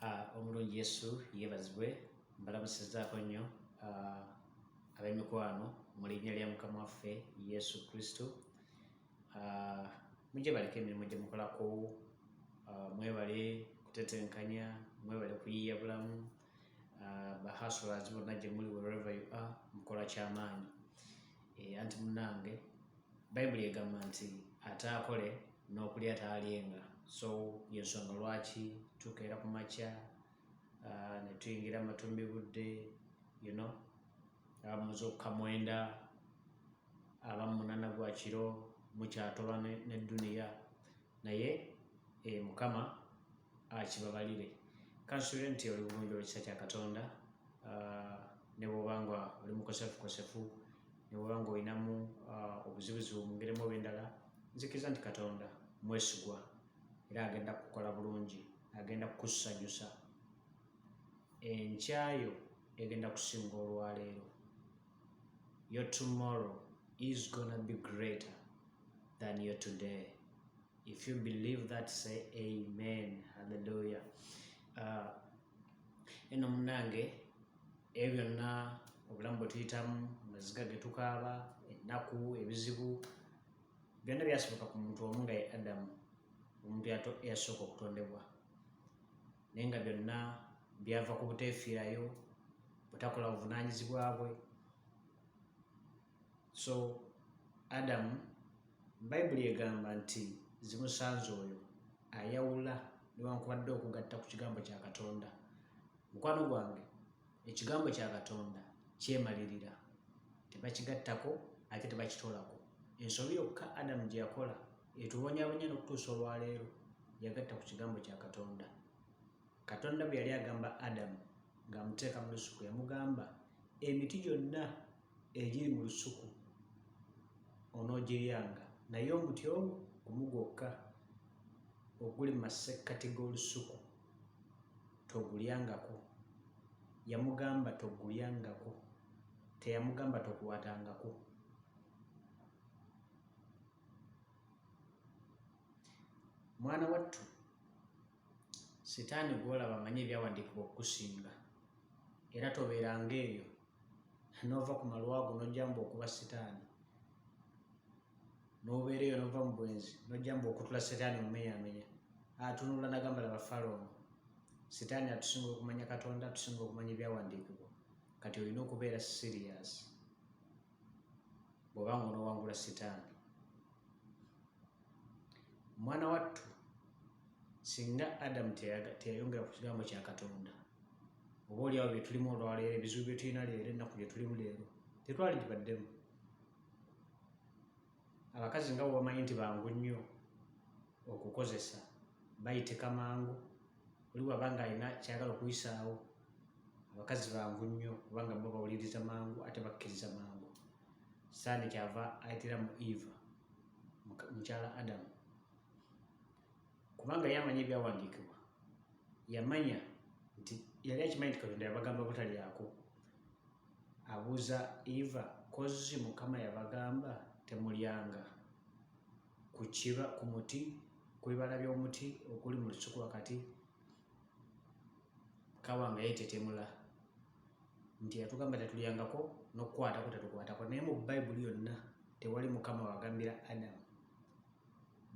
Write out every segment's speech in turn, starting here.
Ah, omulungi yesu yebazibwe mbalamusizaako nnyo ah, ab'emikwano mu linnya lya mukama waffe yesu kristo ah, mujje baleke emirimu gye mukolako mwebale kutetenkanya mwebale kuyiiya bulamu bahasulazi bonna gye muli wherever you are mukola kyamaanyi Eh, anti munange bayibuli egamba nti ataakole n'okulya taalyenga so yensonga lwaki tukeera ku makya ah, ne tuyingira matumbi budde you know abamuza okukamwenda abamunana gwa kiro mukyatoba ne duniya Naye eh, mukama akibabalire kansuubire nti oli bulungi olwekisa kya katonda ah, ne bwoba nga oli mukosefukosefu ne bwoba nga olinamu ah, obuzibuzibu mu ngeri mu oba endala nzikiriza nti katonda mwesigwa era agenda kukola bulungi agenda kukusanyusa enkyayo egenda kusinga olwaleero Your tomorrow is gonna be greater than your today. If you believe that, say amen. Hallelujah. Uh, eno munange ebyo byonna obulamu bwe tuyitamu amaziga ge tukaaba ennaku ebizibu byonna byasoboka ku muntu omu nga ye adamu omuntu yasooka okutondebwa naye nga byonna byava ku buteefiirayo butakola buvunaanyizibwa bwe so adamu bayibuli egamba nti zimusanze oyo ayawula newankubadde okugatta ku kigambo kya katonda mukwano gwange ekigambo kya katonda kyemalirira tebakigattako ate tebakitoolako ensobi yokka adamu gye yakola etubonyabonya n'okutuusa olwaleero yagatta ku kigambo kya Katonda. Katonda bwe yali agamba Adamu ng'amuteeka mu lusuku yamugamba, emiti gyonna egiri mu lusuku onoogiryanga naye omuti ogwo gumu gwokka oguli mu masekkati g'olusuku togulyangako. Yamugamba togulyangako, teyamugamba tokwatangako. mwana wattu sitaani gwolaba amanyi ebyawandiikibwa okukusinga era tobeeranga eyo noova ku malwago nojjamba okuba sitaani nobeera eyo nova mu bwenzi nojjamba okutula sitaani omumenyamenya atunula nagamba laba falono sitaani atusinga okumanya katonda atusinga okumanya ebyawandiikibwa kati olina okubeera siriyasi bw'oba nga onowangula sitaani mwana wattu singa adamu teyayongera ku kigambo kya katonda oba oliawo byetulimu olwaleero ebizibu byetulina leero ennaku gyetulimu leero tetwali gibaddemu abakazi nga bwebamanyi nti bangu nnyo okukozesa bayitika mangu oli waba nga alina kyagala okuyisaawo abakazi bangu nnyo kubanga bo bawuliriza mangu ate bakkiriza mangu sande kyava ayitira mu eva mukyala adamu kubanga yamanya ebyawandiikibwa yamanya nti yali akimanyi nti katonda yabagamba butalyako abuza eva kozzi mukama yabagamba temulyanga kukiba ku muti ku bibala by'omuti okuli mu lusuku wakati kawa nga yetetemula nti yatugamba tetulyangako nokukwatako tetukwatako naye mu bayibuli yonna tewali mukama wagambira adamu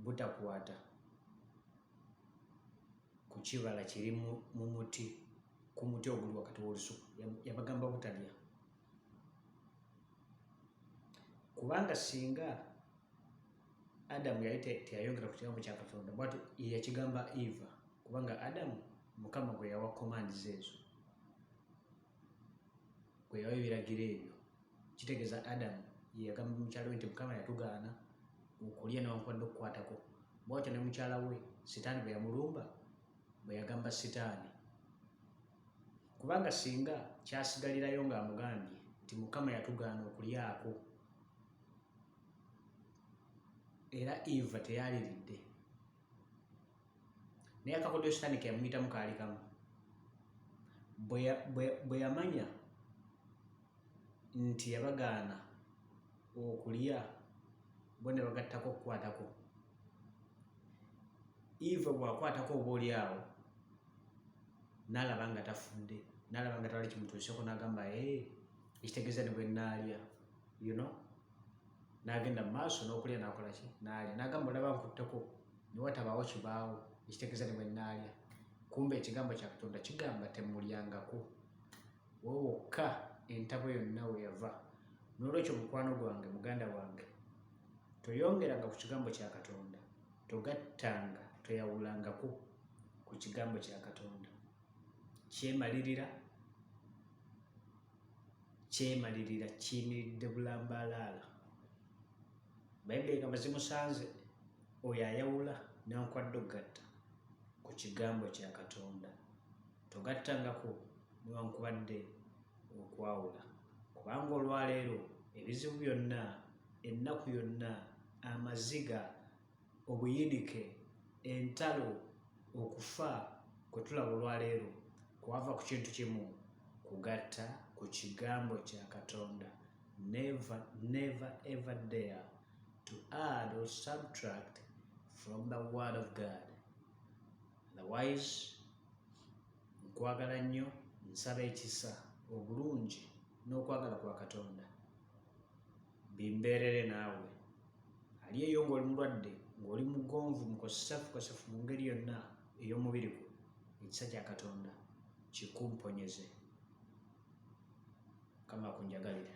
butakwata ku kibala kiri mu muti ku muti oguli wakati w'olusuku yabagamba butalya kubanga singa adamu yali teyayongera ku kigambo kya katonda bwatu yakigamba eva kubanga adamu mukama gwe yawa commands ezo kwe yawa ebiragiro ebyo kitegeeza adamu yeyagamba mukyala we nti mukama yatugaana okulya newankubadde okukwatako bwatyo ne mukyala we sitaani bwe yamulumba bwe yagamba sitaani kubanga singa kyasigalirayo ng'amugambye nti mukama yatugaana okulyako era eva teyaliridde naye akakodyo sitaani keyamuyitamu kaali kamu bwe yamanya nti yabagaana okulya bo ne bagattako okukwatako eva bwakwatako oba oli awo nalaba nga tafudde nalaba nga tewali kimutuuseko nagamba ekitegeeza ne bwenaalya you know n'agenda mu maaso n'okulya n'akola ki n'alya n'agamba olaba nkutteko ne watabaawo kibaawo ekitegeeza ne bwe nnaalya kumba ekigambo kya katonda kigamba temulyangako wowe wokka entabo yonna we yava n'olwekyo mukwano gwange muganda wange toyongeranga ku kigambo kya katonda togattanga toyawulangako ku kigambo kya katonda kyemalirira kyemalirira kiyimiridde bulambaalaala bayibuli egamba zimusanze oyo ayawula newankwadde okugatta ku kigambo kya katonda togattangako newankubadde okwawula kubanga olwaleero ebizibu byonna ennaku yonna amaziga Obuyinike, entalo, okufa kwe tulaba olwaleero kwava ku kintu kimu, kugatta ku kigambo kya Katonda. Never, never ever dare to add or subtract from the word of God. Otherwise, nkwagala nnyo nsaba ekisa obulungi n'okwagala kwa Katonda. Bimbeerere naawe ali eyo ng'oli mulwadde ng'oli mugonvu mukosefukosefu mu ngeri yonna ey'omubiri gwo ekisa kya katonda kikumponyeze kama kunjagalira